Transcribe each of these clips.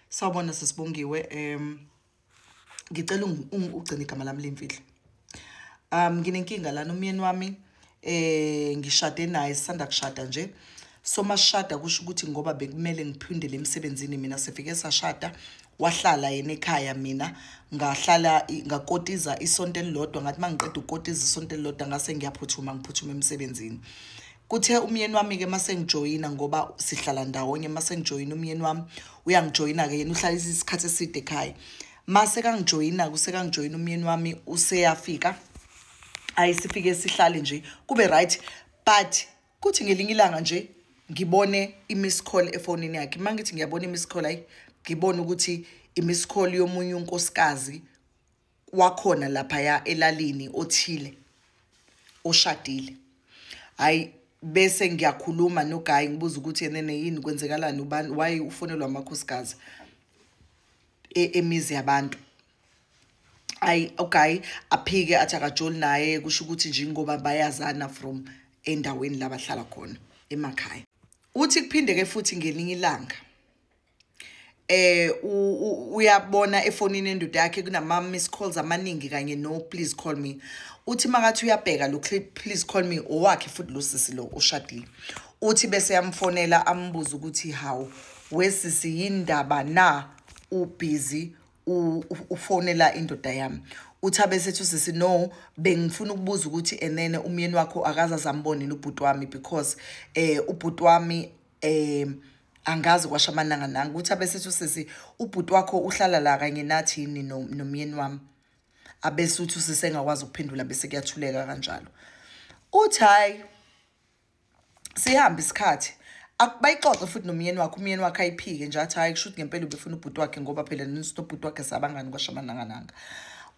sawubona sesibongiwe um ngicela ugcine igama lami limfihlo um nginenkinga lana umyeni wami eh ngishade naye sisanda kushada nje so masishada kusho ukuthi ngoba bekumele ngiphindele emsebenzini mina sifike sashada wahlala yena ekhaya mina ngahlala ngakotiza isonto elilodwa ngathi uma ngiqeda ukotiza isonto elilodwa ngase ngiyaphuthuma ngiphuthuma emsebenzini kuthe umyeni wami-ke uma sengijoyina ngoba sihlala ndawonye uma sengijoyina umyeni wami uyangijoyina-ke yena uhlala isikhathi eside ekhaya uma sekangijoyina-ke usekangijoyina umyeni wami useyafika ayi sifike sihlale nje kube right but kuthi ngelinye ilanga nje ngibone i-miss call efonini yakhe uma ngithi ngiyabona i-miss call ayi ngibone ukuthi i-miss call yomunye unkosikazi wakhona laphaya elalini othile oshadile hayi bese ngiyakhuluma nogayi ngibuza ukuthi yenene yini kwenzekalani ubani waye ufonelwa amakhosikazi e-, emizi yabantu ayi ugayi aphike athi akajoli naye kusho ukuthi nje ngoba bayazana from endaweni labahlala khona emakhaya uthi kuphindeke futhi ngelinye ilanga eh uyabona efonini endoda yakhe kunama miss calls amaningi kanye no please call me uthi makathi uyabheka lo clip please call me owakhe futhi lo sisi lo ushadile uthi bese yamfonela ambuza ukuthi how wesisi yindaba na ubusy ufonela indoda yami uthi abesethu sisi no bengifuna ukubuza ukuthi enene umyeni wakho akaze azambonini ubhuti wami because eh ubhuti wami um angazi kwasha amananga nanga ukuthi abesethi usisi ubhuti wakho uhlala la kanye nathi yini nomyeni wami abese uthi usisi engakwazi ukuphendula bese kuyathuleka kanjalo uthi hhayi sihambe isikhathi bayixoxe futhi nomyeni wakhe umyeni wakhe ayiphike nje athi hhayi kusho ukuthi ngempela ubefuna ubhuti wakhe ngoba phela nobhuti wakhe sabangani kwasha amanangananga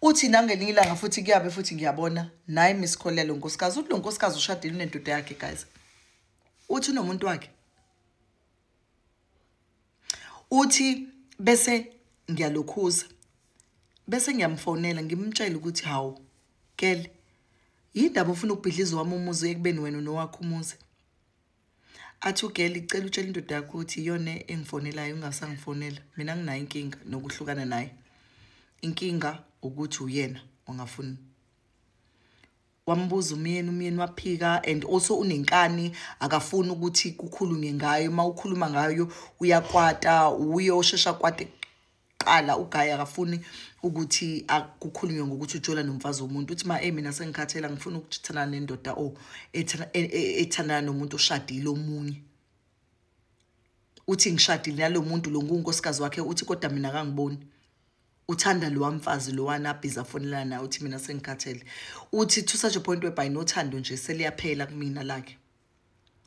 uthi nangelinye ilanga futhi kuyabe futhi ngiyabona naye misikholelo nkosikazi uthi lo nkosikazi ushadile unendoda yakhe guys uthi unomuntu wakhe uthi bese ngiyalokhuza bese ngiyamfonela ngimtshela ukuthi hawu kele yindaba ufuna ukubhidliza wami umuzi ekubeni wena nowakho umuzi athi ugeli cela utshela indoda yakho ukuthi iyona engifonelayo ungasangifonela mina nginayo inkinga nokuhlukana naye inkinga ukuthi uyena ongafuni wambuza umyeni umyeni waphika and also unenkani akafuni ukuthi kukhulunywe ngayo uma ukhuluma ngayo uyakwata uye oshesha kwate kuqala ugayi akafuni ukuthi akukhulunywe ngokuthi ujola nomfazi womuntu uthi ma mina sengikhathela ngifuna ukuthana nendoda o e, e, ethandana nomuntu oshadile omunye uthi ngishadile nalomuntu lo ngunkosikazi wakhe uthi kodwa mina kangiboni uthanda lowa mfazi lowana abhizi afonelana naye uthi mina sengikhathele uthi to such a point whereby nothando nje seliyaphela kumina lakhe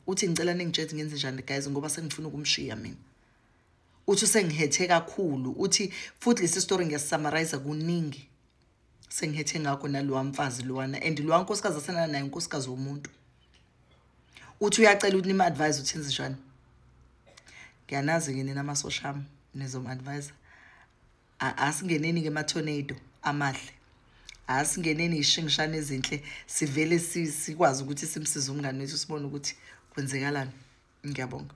uthi ngicela ningitshezi ngenze njani guys ngoba sengifuna ukumshiya mina uthi usengihethe kakhulu uthi futhi lesi story ngiyasummarize kuningi sengithe ngakho nalowa mfazi lowana and lowa nkosikazi asenana naye unkosikazi womuntu uthi uyacela ukuthi nima-advise ukuthi enze njani ngiyanazi-ke nina amasosha ami nizom-advisa asingeneni-ke ama-tornado amahle asingeneni yishingishane ezinhle sivele sikwazi ukuthi simsize umngane wethu sibone ukuthi kwenzekalani ngiyabonga